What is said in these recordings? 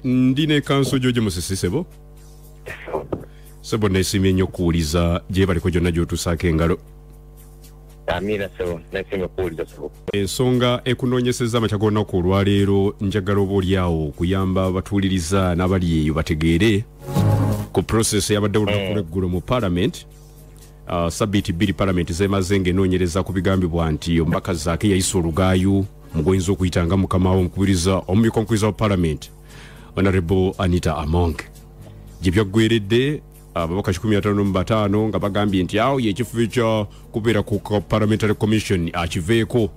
ndi ne kanso jojo musisi sebo sebo nesimye nnyo okuwuliza gyebaliko gyonna gyotusaako engalo Amina sebo nesimye kuwuliza sebo ensonga ekunoonyeseza amakya g'olunaku olwaleero njagala oba olyawo okuyamba abatuuliriza n'abali eyo bategeere ku process yabadde olunaku mm. lweggulo mu palamenti Uh, sabiiti bbiri palamenti zemaze ng'enoonyereza ku bigambibwa nti omubaka zaake yayisa olugaayu mu gwoyinza okuyita nga mukama we omukubiriza omumyuka omukubiriza wa palamenti honorable anita among gye byaggweredde uh, ababaka 15 nga bagambye nti awo yekifubi kya kubeera ku parliamentary commission akiveeko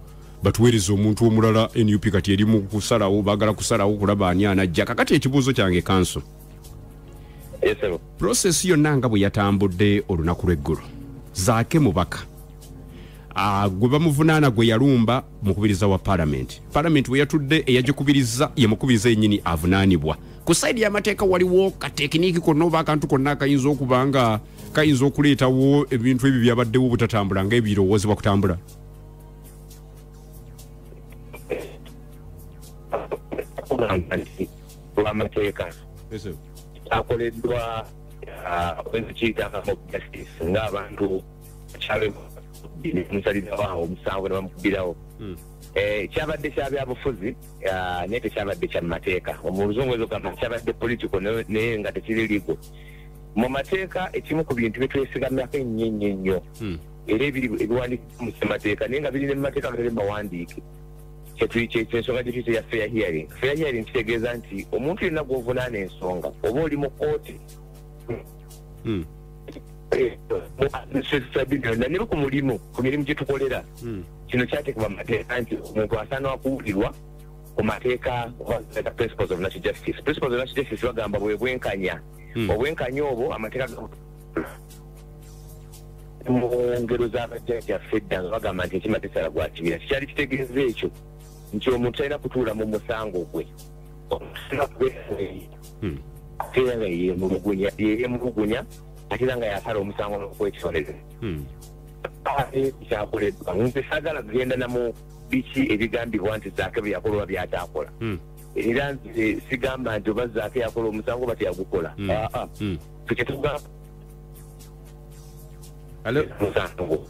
batuweereza omuntu omulala nup kati eri mu kusalawo bagala kusalawo kulaba ani anajja kakati ekibuuzo kyange kanso prosesi yonna nga bwe yatambudde olunaku lw'eggulo zaake mubaka ah, gwe bamuvunaana gwe yalumba mukubiriza wa palamenti palamenti bwe yatudde eyagikubiriza ye mukubiriza yennyini avunaanibwa ku saidi y'amateeka waliwo katekiniiki konna oba akantu konna akayinza okuba nga kayinza okuleetawo ebintu ebyo byabaddewo obutatambula nga ebirowoozebwa kutambula lwamateeka kyakoleddwa wezikiitakamu justice ngaabantu kyabemusalirawo awo omusango nebamukubirawo hmm. eh, kyabadde kyabyabufuzi ah, naye tekyabadde kyamateeka omuluzungu ezogamba kyabadde political naye nga tekiri ligo mu mateeka ekimu ku bintu byetwesigamyako ennyo ennyo nnyo hmm. era ebiwandiikibwa mu ssemateeka naye nga biri ne mu mateeka gere mawandiike kyensonga gye tuyita ya fair hearing fair hearing kitegeeza nti omuntu yenna gwovunaana ensonga oba oli mu kooti hmm. eh, nero ku mulimu ku mirimu gye tukolera hmm. kino kyatekebwa mu mateeka nti omuntu asaana wakuwulirwa ku mateeka principles of national justice principles of national justice bagamba bwe bwenkanya hmm. obwenkanya obwo amateeka mu ngero z'abajjajjaffe edda nga bagamba nti enkima tesala gwa kibira kikyali kitegeeza ekyo nti omuntu talina kutuula mu musango gwe omusina kubeeyi hmm. ate era nga yeyemulugunya yeyemulugunya ate era nga yasala omusango n'okwekisoleza hmm. kyakoleddwa nze sagala kugenda namu biki ebigambibwa nti zaake bye yakola oba byakyakola hmm. era nze sigamba nti oba zaake yakola omusango oba teyagukola hmm. ah, ah. hmm. tukituga Hello? musango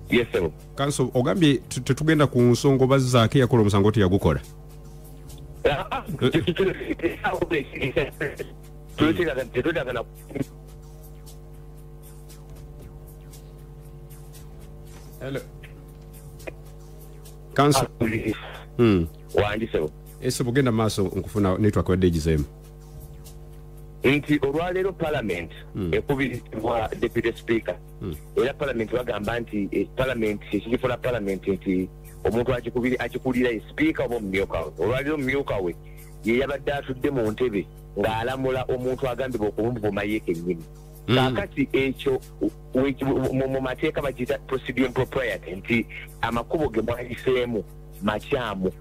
yes sebo kanso ogambye tu- tetugenda ku nsonga oba zaake yakola omusango teyagukola tetwetagana kanso wandi sebo ese bugenda mu maaso nkufuna network yadde egizeemu nti olwaleero palamenti hmm. ekubirizibwa deputy speaker hmm. era palamenti bagamba nti eh, palamenti kyekigifuna palamenti nti omuntu akikulira ye sipiika oba omumyuka we olwaleero omumyuka we ye yabadde atudde mu ntebe ng'alamula omuntu agambibwa okumuvuma ye kennyini hmm. kakati ekyo mu mateeka bakiyita procedure propriety nti amakubo ge mwayiseemu makyamu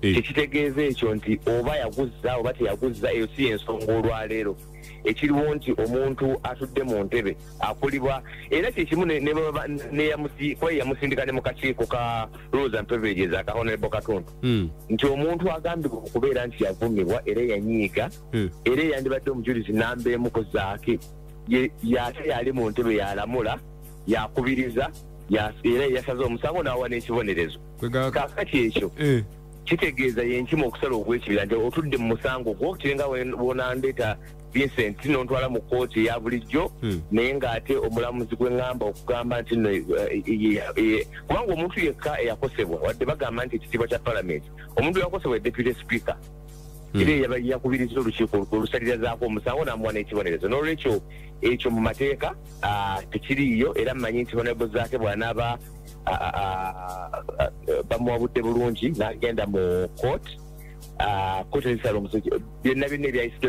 eh. tekitegeeza ekyo nti oba yaguzza oba teyaguzza eyo si yensonga olwaleero ekiriwo nti omuntu atudde mu ntebe akulibwa era kyekimu neyamusindika ne mukakiiko ka rules and privileges aka honorable katundu hmm. nti omuntu agambibwa okubeera nti yavumibwa era yanyiiga hmm. era eyandibadde omujulizi namba emu ku zaaki yate yali mu ntebe yalamula yakubiriza era yasaze omusango n'awa n'ekibonerezo kakati ekyo eh. kitegeeza yenkima okusala ogwekibira nti otudde mu musango gwo kirenga wonandeeta vincent nontwala mu kooti eya bulijjo hmm. naye ngaate omulamuzi gweŋamba okugamba nti no eh, eh, kubanga omuntu yekka eyakosebwa wadde bagamba nti ekitiibwa kya palamenti omuntu yakosebwa e deputy speaker Hmm. era yaba yakubiriza olukiiko olwo olusalirazaako omusango namuwa n'ekibonerezo n'olwekyo ekyo mu mateeka ah, tekiriiyo era mmanyi nti honebo zaake bwanaaba bamuwabudde bulungi nagenda mu court kotesala omusajja byonna byonna ebyayisito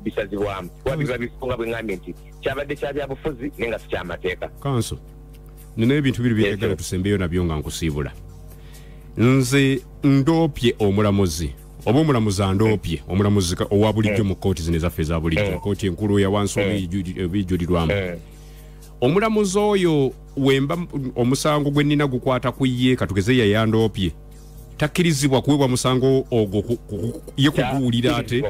bisazibwamu kuba biba bifunga bwengambye nti kyabadde kya byabufuzi naye nga sikyamateeka kanso nina ebintu biri byeyagala tusembeyo nabyo nga nkusiibula nze ndoopye omulamuzi oba omulamuzi andoopye omulamuzi owa bulijjo mu kooti zino ezaffe eza bulijjo kooti enkulu yawansi oba ebijulirwamu omulamuzi oyo wemba omusango gwe nina gukwata ku ye katugeze yayandoopye takkirizibwa kuweebwa musango ogwo ye kuguwulira ate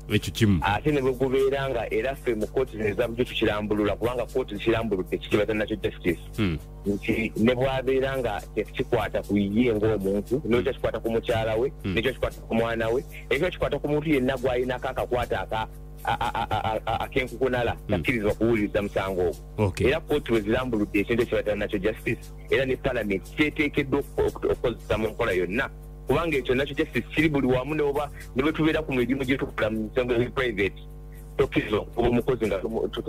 ekyo kimu ate ne bwe gubeera nga era ffe mu kooti zino ezabujjo tukirambulula kubanga kooti zikirambuludde kikibaza nakyo justice hmm. nti ne bwabeera nga tekikwata ku ye ng'omuntu hmm. nekyo kikwata ku mukyala we hmm. nekyo kikwata ku mwana we ekyo kikwata ku muntu yenna gwalinako akakwata aka akenkukunala hmm. takkirizibwa kuwuliriza musango ogwo era kooti bwe zirambuludde ekintu ekibatana nakyo justice era ne palamenti kyeteekeddwa okukozesa mu nkola yonna kubanga ekyo nakyo justice kiri buli wamu neoba ne bwe tubeera ku mirimu gye tukola mu misango eri private tokkiriza okuba omukozi nga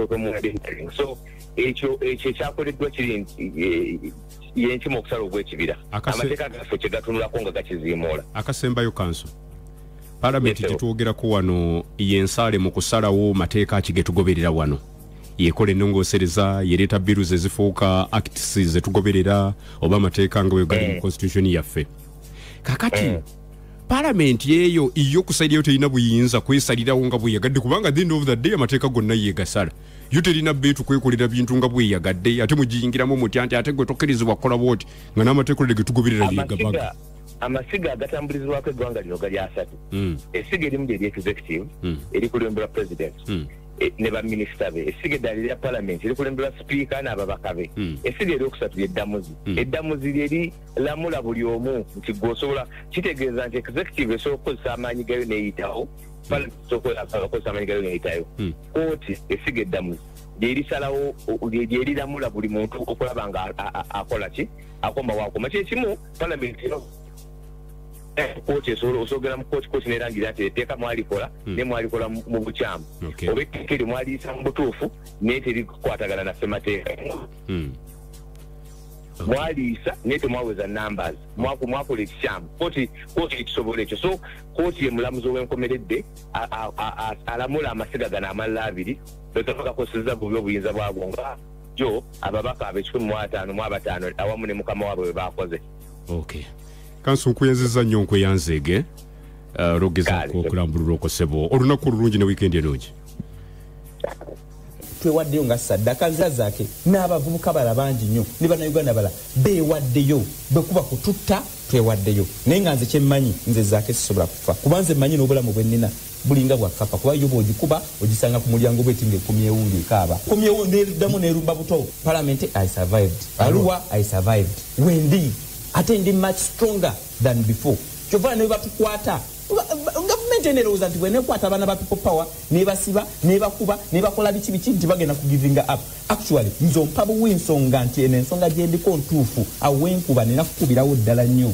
tomuwadentering so ekyo ekyo ekyakoleddwa kiri nti eh, yenkima okusala ogw'ekibira amateeka gaffe kye gatunulako nga gakiziimuula akasembayo kanso palamenti gyetwogerako wano yensaale mu kusalawo mateeka ki getugoberera wano yekola enongosereza yereeta biru zezifuuka acts zetugoberera oba amateeka nga wegali mu eh. constitution yaffe kakati eh. palamenti eyo iyo kusairayo terina buyinza kwesalirawo nga bweyagadde kubanga the end of the day amateeka gonna yegasala yo terina beetu kwekolera bintu nga bweyagadde ate mugiyingiramu mutya nti ate gwe tokkirizibwa kukola bwoti nga n'amateekolere getugoberera yegabaga amasiga agatambulizibwako eggwanga lino gali asatu hmm. essiga erimu lyeri executive hmm. erikulemberwa president hmm. e, ne baminisita be essiga eddala erya palamenti erikulemberwa sipiika n'ababaka be essiga eryokusatu lyeddamuzi eddamuzi lyeri lamula buli omu nti gwe osobola kitegeeza nti executive esobola okukozesa amaanyi gayo neyitawo palamenti esobola okukozesa amaanyi gayo neyitayo kooti essiga eddamuzi lyerisalawo lyeriramula buli muntu okulaba nga akola ki akomawo akoma kyekimu palamenti eno kooti esobola osogera mu kooti kooti nerangira nti etteeka mwalikola hmm. ne mwalikola mu bukyamu oba etteeka eryo mwaliyisa mu butuufu naye terikwatagana na ssemateeka hmm. mwaliisa naye temwaweza numbers mwakola ekikyamu kooti kooti ekisobola ekyo so kooti ye mulamuzi owenkomeredde alamula amasiga gano amalala abiri bwetavakakoseza bubi obuyinza bwagwo nga bulijjo ababaka abekikumi mu ataano mu abataano awamu ne mukama waabwe bwe baakoze okay. kansi nkweyanziza nnyo nkweyanzeege uh, lwogezaako okulambulula okosebo olunaku olulungi ne wiikendi enungi twewaddeyo nga saddaka nzazake n'abavubuka bala bangi nnyo ne banauganda bala beewaddeyo bwekuba kututta twewaddeyo naye nga nze kyemmanyi nze zaake sisobola kufa kuba nze mmanyi n'obulamu bwennina Bulinga bwa kkapa kuba yo bw'ogikuba ogisanga ku mulyango bw'eti ng'ekomyewo ng'ekaaba. Ekomyewo n'eddamu n'erumba buto. Palamenti I survived. Arua I survived. Wendi ate ndi much stronger than before. Kyova ne bwe batukwata gavumenti eno erowooza nti bwenekwata abaana ba people power nebasiba nebakuba nebakola biki biki nti bagenda ku givinga up actually nze ompabuwa ensonga nti eno ensonga gyendiko ntuufu awenkuba nina kukubirawo ddala nnyo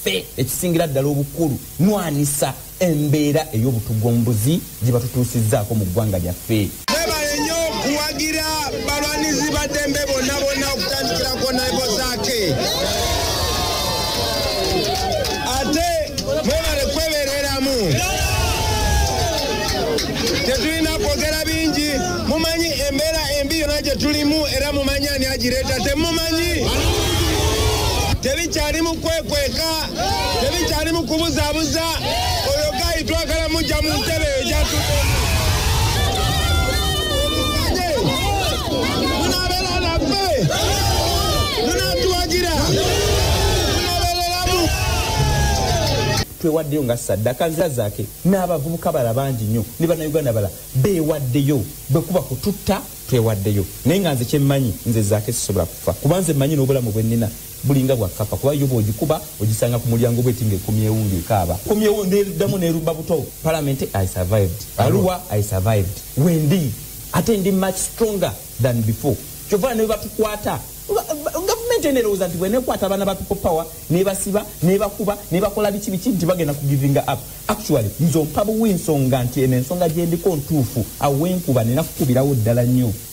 Ffe ekisingira ddala obukulu nwanisa embeera ey'obutugombuzi gye batutuusizzaako mu ggwanga lyaffe. Mwebale nnyo kuwagira balwanizi ba ddembe bonna bonna okutandikirako naibo zaake. Ate mwebale kwebereramu. Tetulina kwogera bingi mumanyi embeera embi yonna gye tulimu era mumanyi ani agireeta temumanyi. Tebikyali mu kwekweka, tebikyali mu kubuzabuza. Oyo gayi twagala mujja mu ntebe eyo gyatuddemu. Olukanye, munaabeera naffe, munaatuwagira, munaabeereramu. twewaddeyo nga saddaka nzira zake n'abavubuka bala bangi nnyo ne bannayuganda bala beewaddeyo bwe kuba kututta twewaddeyo naye nga nze kyemmanyi nze zaake sisobola kufa kuba nze mmanyi n'obulamu bwe nnina bulinga bwa kkapa kuba yo bw'ogikuba ogisanga ku mulyango bweti ng'ekomyewo ng'ekaaba komyewo n'eddamu n'erubba buto palamenti i survived aluwa i survived wendi ate ndi much stronger than before kyova ne batukwata gavumenti eno erowooza nti bwenekwata abaana ba people power nebasiba nebakuba nebakola biki biki nti bagenda kugivinga up actually nze ompabuwa ensonga nti eno ensonga gyendiko ntuufu awenkuba nina kukubirawo ddala nnyo